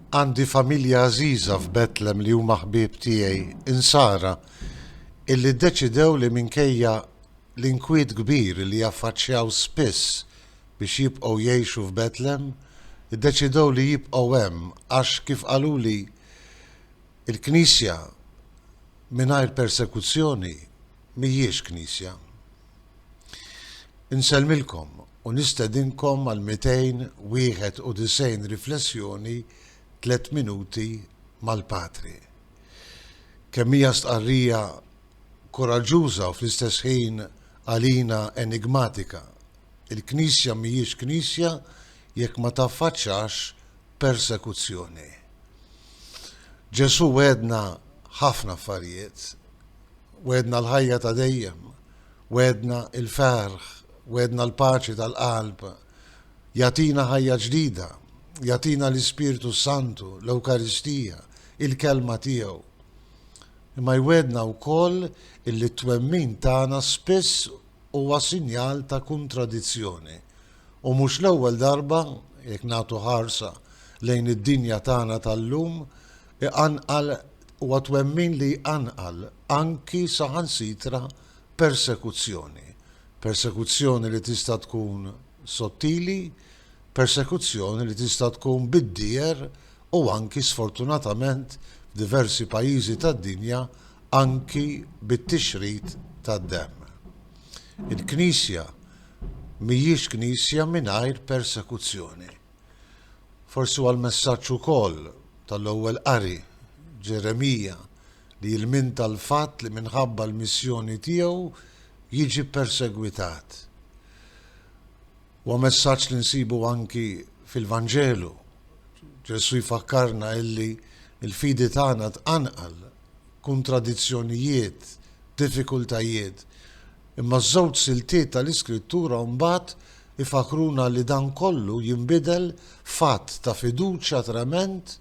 Għandi familja għażiża f'Betlem li huma ħbieb tiegħi, Insara, illi ddeċidew li minkejja l-inkwiet kbir li jaffaċċjaw spiss biex jibqgħu jgħixu f'Betlem, iddeċidew li jibqgħu hemm għax, kif qaluli, il-Knisja mingħajr persekuzzjoni, mhijiex knisja. Insellmilkom u nistedinkom għal 291 riflessjoni tliet minuti mal-Patri. Kemm hija stqarrija kuraġġuża u fl-istess ħin għalina enigmatika, il-knisja mhijiex knisja jekk ma taffaċċax persekuzzjoni. Ġesù wegħedna ħafna affarijiet, Wegħedna l-ħajja ta' dejjem, wegħedna l-ferħ, wegħedna l-paċi tal-qalb. Jagħtina ħajja ġdida, jagħtina l-Ispirtu Santu, l-Ewkaristija, il-kelma tiegħu. Imma jwedna wkoll illi t-twemmin tagħna spiss huwa sinjal ta' kontradizzjoni. U mhux l-ewwel darba, jekk nagħtu ħarsa lejn id-dinja tagħna tal-lum, iqanqal Huwa twemmin li jqanqal anki saħansitra persekuzzjoni. Persekuzzjoni li tista' tkun sottili, persekuzzjoni li tista' tkun bid-dieher u anki sfortunatament f'diversi pajjiżi tad-dinja anki bit-tixrid tad-demm. Il-Knisja mhijiex Knisja mingħajr persekuzzjoni. Forsi huwa l-messaġġ ukoll tal-Ewwel Qari, Ġeremija, li jilminta l-fatt li minħabba l-missjoni tiegħu jiġi ppersegwitat. Huwa messaġġ li nsibu anki fil-Vanġelu. Ġesù jfakkarna illi l-fidi tagħna tqanqal kuntradizzjonijiet, diffikultajiet. Imma ż-żewġ siltiet tal-Iskrittura mbagħad ifakkruna li dan kollu jinbidel f'att ta' fiduċja trement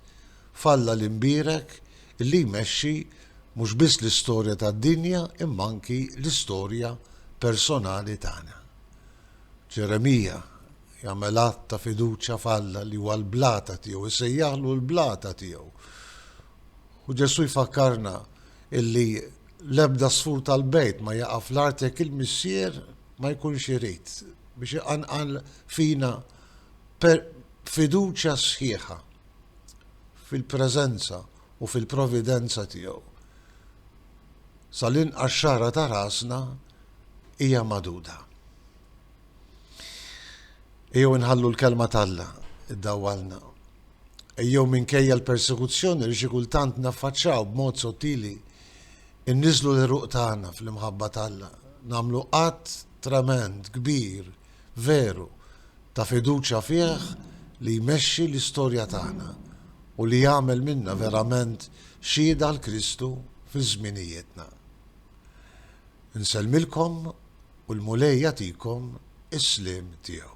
f'Alla l-Imbierek li jmexxi mhux biss l-istorja tad-dinja imma anki l-istorja personali tagħna. Ġeremija jagħmel att ta' fiduċja f'Alla li huwa l-blata tiegħu, isejjaħlu l-blata tiegħu. U Ġesù jfakkarna illi l-ebda sfur tal-bejt ma jaqa' fl-art jekk il-Missier ma jkunx irid biex iqanqal fina fiduċja sħiħa fil-preżenza u fil-providenza tiegħu. Sal-inqas xara ta' rasna hija magħduda. Ejjew inħallu l-kelma t'Alla iddawwalna jew minkejja l-persekuzzjoni li xi kultant naffaċċaw b'mod sottili, inniżżlu l-għeruq tagħna fl-imħabba t'Alla, nagħmlu att tremend, kbir, veru, ta' fiduċja fih li jmexxi l-istorja tagħna u li jagħmel minna verament xhieda għal Kristu fi żminijietna. Insellmilkom u l-Mulej jagħtikom is-sliem tiegħu.